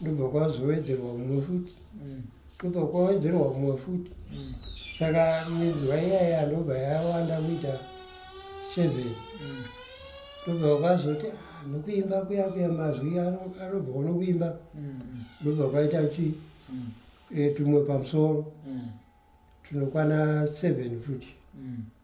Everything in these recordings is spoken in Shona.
ndobva kwazowedzerwa umwe futi mm. ndobva kwawedzerwa umwe futi mm. saka minzwa iyaya ndobva yawanda kuita seven mm. ndobva kwazoti ah, nokuimba kuya kuya mazwi anobva unokuimba ndobva kwaita chi eh, tumwe pamusoro tunokwana seven futi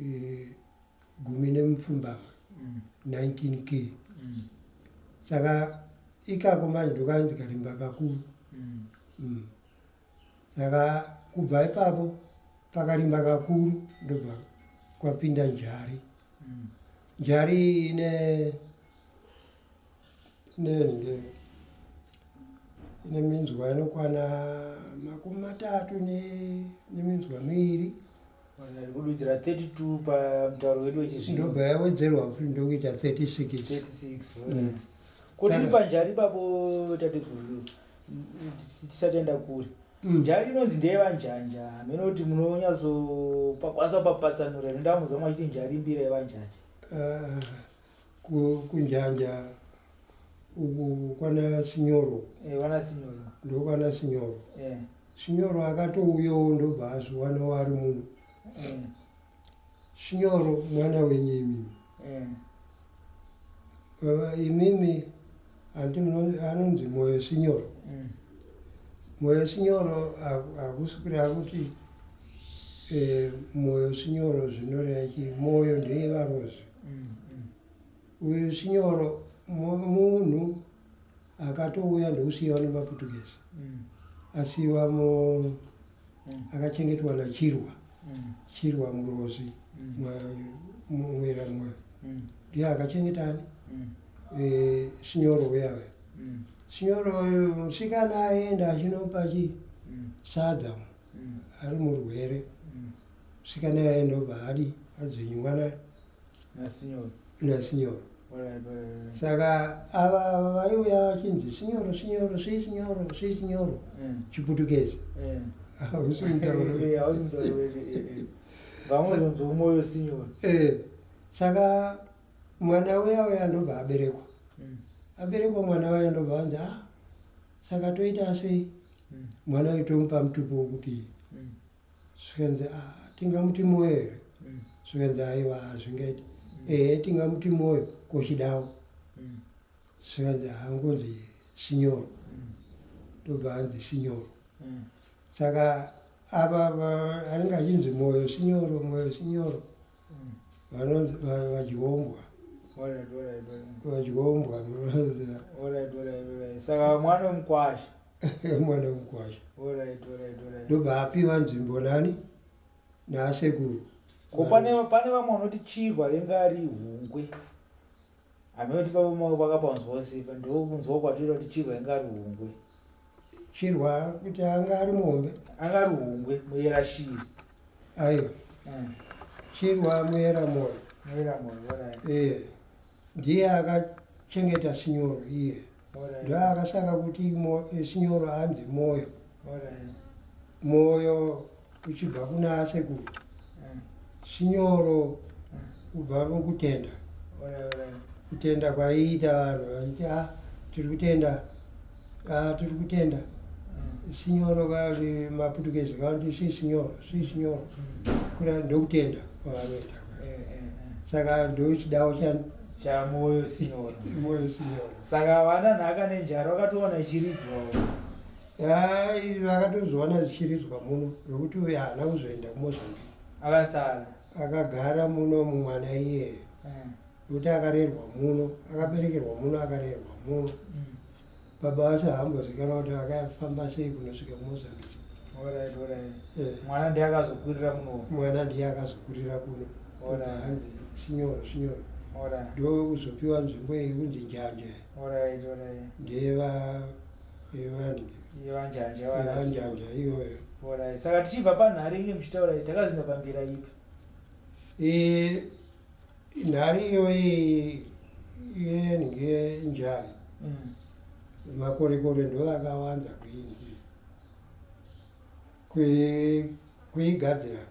eh, gumi nemupfumbamwe 19 k saka ikako manje ndokava ndikarimba kakuru mm. saka kubva ipapo pakarimba kakuru ndobva kwapinda njari njari ine inenge ine minzwa inokwana makumi matatu neminzwa miviri kududzira 32 pamutauro wedu wechizvino ndobva yawedzerwa futi ndokuita 36 mm. kuti ri panjari ipapo tateguru tisatenda kure mm. njari inonzi ndeyevanjanja hameno kuti munonyatso pakwanisa papatsanura rindamuza mwachiti njari mbira yevanjanja ah. kunjanja uku kwana sinyoro ndokwana sinyoro sinyoro akatouyawo ndobva azviwana wari muno sinyoro mwana wenyimi imimi Hanti anonzi Moyo Sinyoro. Mm. Moyo Sinyoro akusukira akuti eh, Moyo Sinyoro zvinoreva chi Moyo ndeye varozi. Mm, mm. Uyu Sinyoro munhu akatouya ndokusiiwa nemaPortuguese. Mm. Asiiwa mu mm. akachengetwa nachirwa mm. chirwa murozi mumwera mm. mwoyo mm. ndiye akachengeta ani mm. e, sinyoro uyave mm. sinyoro musikana aenda achinopa chi mm. sadza mm. ari murwere mm. Msikana yaye ndobva hadi adzinywana nasinyoro nasinyoro saka ava vaiuya vachinzi sinyoro sinyoro sei sinyoro sei sinyoro eh. chiputukezi eh. hausi mutauro eh, vamwe zonzi umoyo sinyoro saka mwana uya uya ndobva aberekwa hmm. aberekwa mwana waya ndobva anzi a ah, saka toita sei hmm. mwana uyu tomupa mutupo wokuti zvikanzi ah, tingamuti moyo here mm. zvikanzi aiwa hazvingaiti ehe tingamuti moyo kochidawo mm. zvikanzi hangonzi sinyoro mm. ndobva hanzi sinyoro saka ava anenge achinzi moyo sinyoro moyo sinyoro vanonzi vadyombwa vadyombwa saka mwana wemukwasha mwana wemukwasha ndobva apiwa nzvimbo nani naasekuru ko pane vamwe vanoti chirwa venge ari hungwe anoti pavamao vakapanzwa sepa ndokunzwa kwatira kuti chirwa venge ari hungwe chirwa kuti anga ari mombe anga ari hungwe muyera shiri aiwa hmm. chirwa muyera moyo muyera moyo ndiye akachengeta sinyoro iye ndoakasaka kuti esinyoro hanzi moyo moyo uchibva kuna sekuru sinyoro kubva mukutenda kutenda kwaiita vanhu vaiti a ah, tiri kutenda a ah, tiri kutenda sinyoro kati maputukezi kanti si sinyoro si sinyoro kuda ndokutenda kwavanoita eh, eh, eh. saka ndochidawo chamoyo sinona moyo sinona saka havana nhaka nenjara vakatoona ichiridzwawo yai vakatozviona zvichiridzwa muno zvokuti uye haana kuzoenda kumozambique akasara akagara muno mumwana iyeyo Eh, kuti akarerwa muno akaberekerwa muno akarerwa muno mm. baba vacho haambozikana kuti vakafamba sei kunosvika kumozambique eh. mwana ndiye akazokurira kuno mwana ndiye akazokurira kuno hanzi sinyoro sinyoro ndo kuzopiwa nzvimbo iyi kunzi njanje ndeyevanjanja iyoyo saka tichibva panhare inge muchitaura takazinda pambira ipi eh, Nhari iyoyi yenhye njani mm. makorekore ndo akawanda kuinhye kuigadzira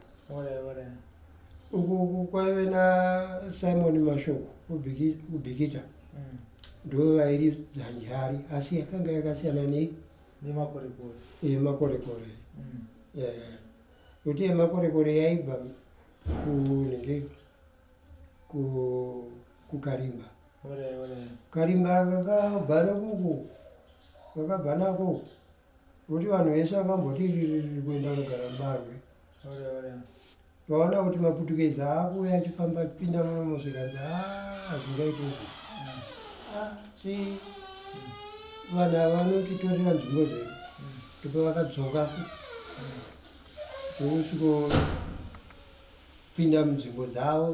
uku kwaive nasimon mashoko kubhikita mm. ndo vairi dzanjari asi yakanga yakasiyana nei nemakorekore mm. Kuti yemakorekore yaibva kunenge kukarimba karimba kakabva nokuku kakabva nako kuti vanhu vese vakamboti ririri kuenda kugara mbarwe vaona kuti maputukeza akuve achifamba achipinda munomosekanzi hazvingaiti ah, ah, vanhu ava vanotitorera nzvimbo dzedu ndipo vakadzoka ndokusvikopinda munzvimbo dzavo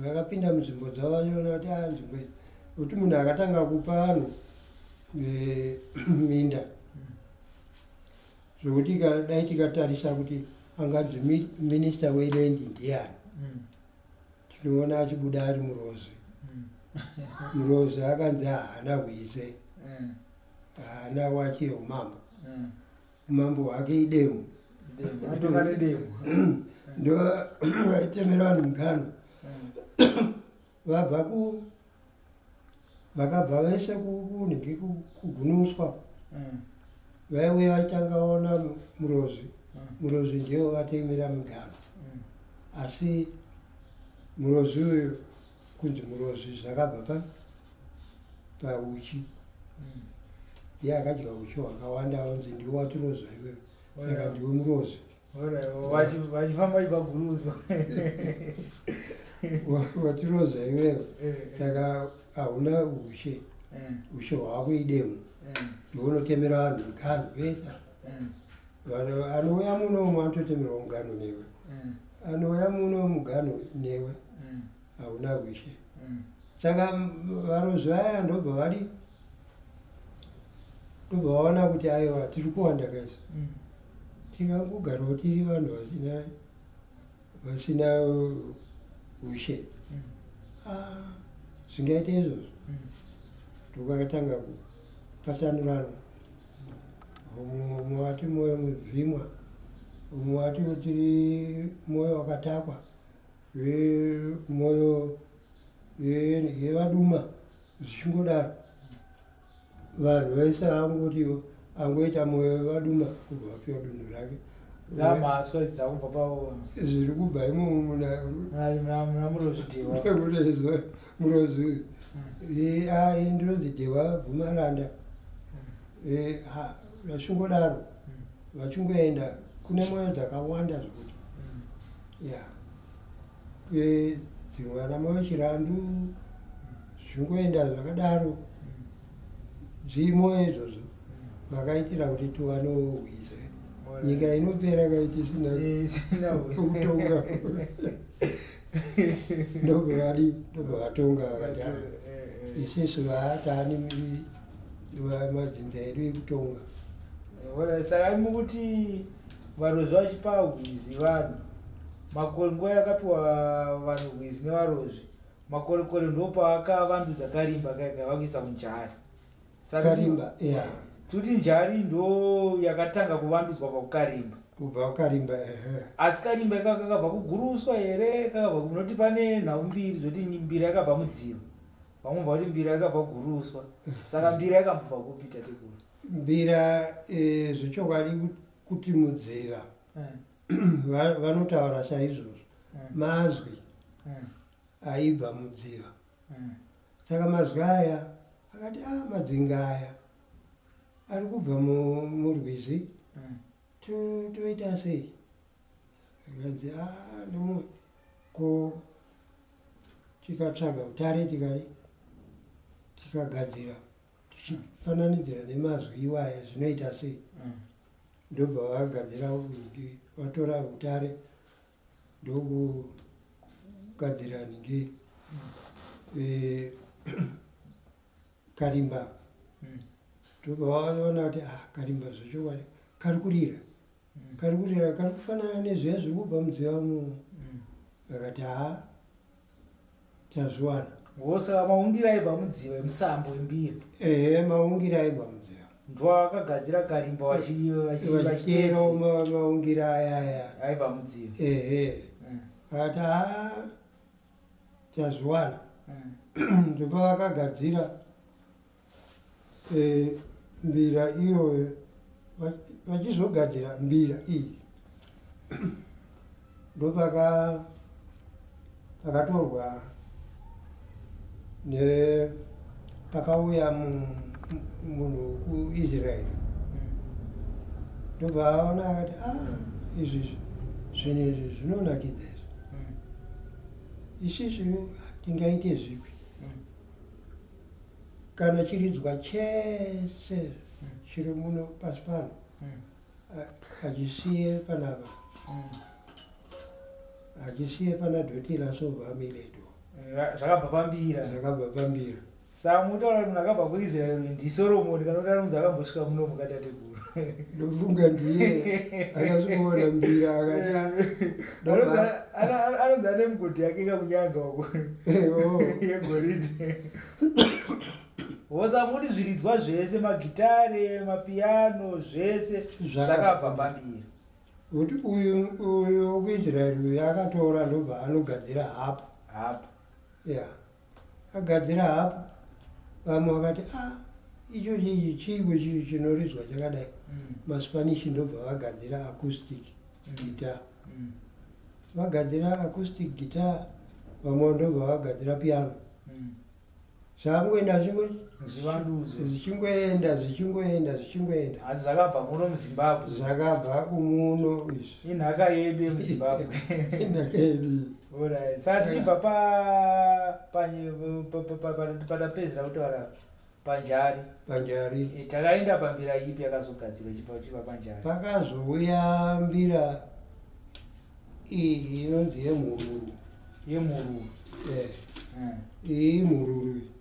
vakapinda munzvimbo dzavo vachiona kuti a ah, nzvimbo iyi kuti munhu akatanga kupa vanhu eh, minda zvokuti dai tikatarisa kuti anganzi minista weland ndiani hmm. tinoona achibuda ari murozi hmm. murozi akanzi haana hwize hmm. haana wake umambo mm. umambo hwake idemo ndo vaitemera vanhu mugano mm. vabva ku vakabva vese kunhingi kugunuswa mm. vaiuya vaitanga vaona murozi mm. murozi ndiwo vatemera mugano asi murozi uyu kunzi murozi zvakabva pa pauchi mm. ndiye akadya uchi hwakawanda anzi ndiwe watiroza iwewe saka ndiwe murozi vachifamba ipaguruzo watiroza iwewe eh. saka hauna ushe eh. ushe hwako idemo eh. ndiwe unotemera vanhu mugano vesa mm. vanhu anouya muno umwe anototemerwa mugano newe mm. anouya muno mugano newe mm. hauna mm. wishe mm. saka varozvi vaya ndobva vari ndobva vaona kuti aiwa tiri kuwanda kaisa mm. tingangogarawo tiri vanhu vasina vasina ushe mm. ah, zvingaita izvozvo mm. ndokakatanga kupatsanurana mumwe wati mwoyo mubvimwa mumwe wati tiri mwoyo wakatakwa mwoyo yevaduma zvichingodaro vanhu vese angoti angoita moyo vaduma kubva vapiwa dunhu rake zviri kubva imomurozi uyu ndinonzi dhewa bvumaranda vachingodaro vachingoenda kune moyo dzakawanda zvekuti ya dzimwe ana moyo chirandu zvingoenda zvakadaro dzimo izvozvo vakaitira kuti tiwanohwize nyika inopera kaitisina kutonga ndobvavadi ndobva vatonga vakati a isisu vaatani madzinza edu ekutonga saka mukuti varozva vachipahwizi vanhu Makore nguva yakapiwa vanhu hwizi nevarozvi makorekore ndopaakavandudza karimba kaika vakuisa kunjari karimba yeah. tikuti njari ndo yakatanga kuvandudzwa pakukarimba kubva kukarimba ehe asi karimba ikaka kakabva kuguruswa here kakabva kunoti pane nhau mbiri zvoti mbira yakabva mudziva vamwe bva kuti mbira yakabva kuguruswa saka mbira yakambobva kupi tatekuru mbira e, zvechokwadi kuti mudziva eh. vanotaura saizvozvo mm. mazwi mm. aibva mudziva mm. saka mazwi aya akati a ah, madzinga aya ari kubva murwizi toita sei akanzi a ah, nomu ko tikatsvaga utare tikari tikagadzira tichifananidzira nemazwi iwaya zvinoita sei ndobva vagadzira nhingi vatora utare ndokugadzira nhingi eh, karimba hmm. ndobva vaona kuti ah, karimba zvechokwadi kari kurira hmm. kari kurira kari kufanana nezviya zviri kubva mudziva mu hmm. vakati haa tazviwana wose maungira aibva mudziva emusambo wembiri ehe maungira aibva mudziva ndovakagadzira karimba vachidero maungira ayaya aibva mudziva ehe mm. ati ha tazviwana mm. ndopavakagadzira e, mbira iyoyo vachizogadzira mbira iyi ndopaka pakatorwa ne pakauya munhu wekuisraeri ndobva aona akati a ah, izvi zvinhu izvi zvinonakidza izvi isizvi tingaite zvipi kana chiridzwa chese chiri muno pasi pano hachisiye panapa hachisiye pana dotila sovamiledo eh, zvakabva pambira zvakabva pambira samuti vanoti munhu akabva kuisraeri ndisoromoni kana kuti anonzi akambosvika muno mukatateguru ndofunga ndiye akazviona mbira akatianonzi ane mugodi yake kakunyanga uko yegoridhi wosamuri zviridzwa zvese magitare mapiano zvese zvakabva pambiri kuti uyu uyu kuisraeri uyu akatora ndobva anogadzira hapo hapo ya yeah. agadzira hapo vamwe vakati a ah, icho chii chiiko chii chinoridzwa chakadai mm. maspanish ndobva vagadzira acoustic mm. guitar mm. vagadzira acoustic guitar vamwe ndobva vagadzira piano zvakangoenda zvichingoenda zvichingoenda zvichingoenda asi zvakabva muno muzimbabwe zvakabva umuno izvi inhaka yedu yemuzimbabwe inhaka yedu patichibva patapedzera kutaura panjari panjari eh, takaenda pambira ipi yakazogadzirwa ichibva kuchiva panjari pakazouya mbira iyi inonzi yemhururu yemhururu eh. eh. iyi mhururu iyi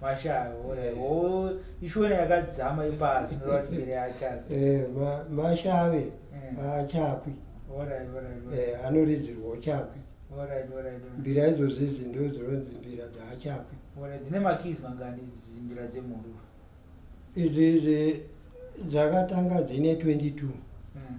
mashava o ishona yakadzama ipasi novatimire achave eh, mashave eh. achakwi eh, anoridzirwa uchakwi mbira idzozi idzi ndo dzinonzi mbira dzaachakwi dzine makis mangani mbira dzemhururu idzi idzi dzakatanga dzine 22 mm.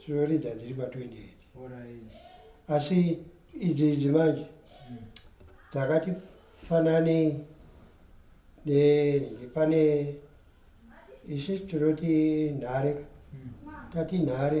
tinoridza dziri pa 28 asi idzi idzi manje mm. dzakati fanane nenenge pane isu tinoti nhare mm. tati nhare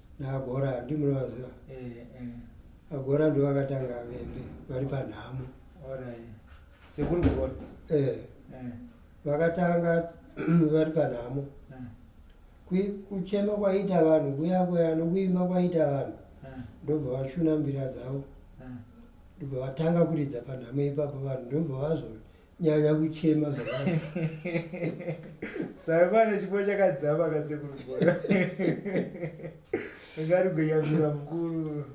naagora handi munovaziva eh, eh. agora ndo vakatanga vembe vari panhamo eh. vakatanga vari panhamo kuchema kwaita vanhu kuya kuya nokuimba kwaita vanhu ndobva vashuna mbira dzavo ndobva vatanga kuridza panhamo ipapo vanhu ndobva vazo nyanya kuchema saimana chipo chakadzama kasekurugora ngarigonyamira mukuru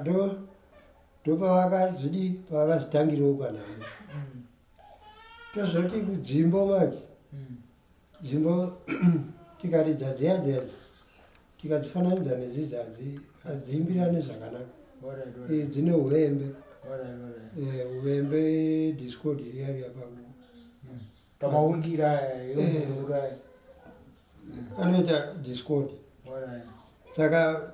ndo ndopavakazvidi pavakazvitangirawo panhamo mm. tozoti kudzimbo manje dzimbo tikati dzadziya dziya tikadzifananidza nedzidzadzi hadziimbirane zvakanaka eh, dzine uvembe eh, uvembe discord riya riya paku hmm. pamaundira anoita discord saka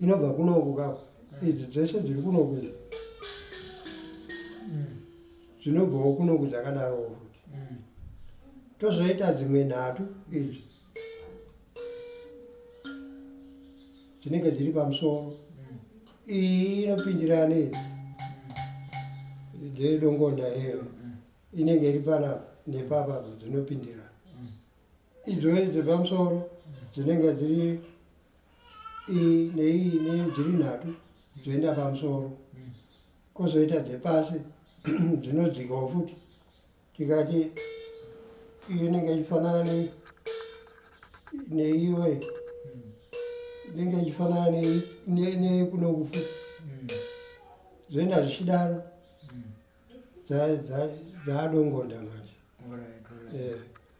inobva kunoku ka idzi dzese dziri kunoku izvi mm. dzinobvawo kunoku dzakadarowo futi mm. tozoita dzimwe nhatu idzi dzinenge dziri pamusoro mm. iyi inopindirana idzi dzeedongonda iyo inenge iri panapa nepapa dzinopindirana idzo idzi pamusoro dzinenge dziri iyi neiyi nei dziri nhatu dzoenda pamusoro kozoita dzepasi dzinodzikawo futi tikati iyo inenge ichifanana nei neiyo inenge ichifanana nei nei kunoku futi zvoenda zvichidaro dzaadongonda manje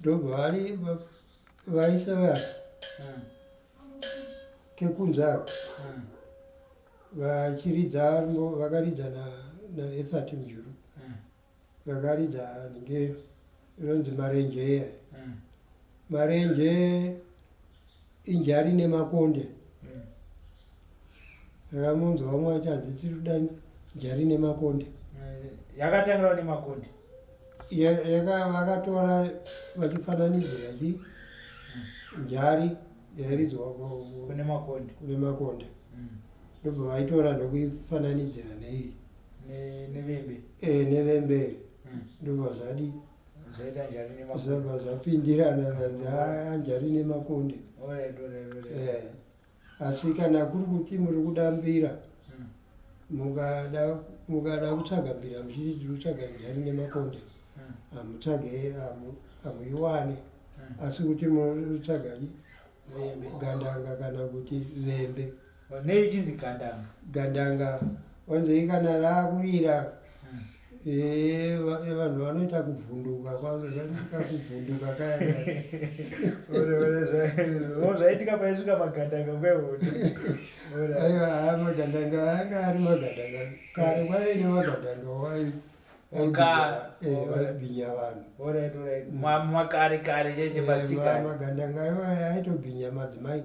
ndobva vari vaisa vati kekunzako vachiridza vakaridza naefat mjuru vakaridza nge rinonzi marenje eya marenje inja rine makonde akamunzwa vamwe vachanzi tiri kuda nja rine makonde yakatangira ne makonde vakatora vachifananidzira chi njari yairidzwa kune makonde kune makonde mm. ndobva vaitora ndokuifananidzira neiyi nevemberi eh, mm. ndobva zvadii zvabva zvapindirana zvanzi haa njari nemakonde eh, asi kana kuri kuti muri kuda mbira mukada kutsvaga mbira muchiti tiri kutsvaga njari nemakonde hamutsvage hamuiwane asi kuti munotsvaga gandanga kana kuti vembe Nei uchinzi gandanga? Gandanga wanzei kana raakurira hmm. eh, eh, vanhu vanoita kuvhunduka kwazozanika kuvhunduka kayazvaitika paisvika magandanga kwehoaiwa haa magandanga anga ari magandanga kare kwaive nemagandanga wai vaibhinya vanhu makare kare chechepasikagandanga aiwa aitobhinya madzimai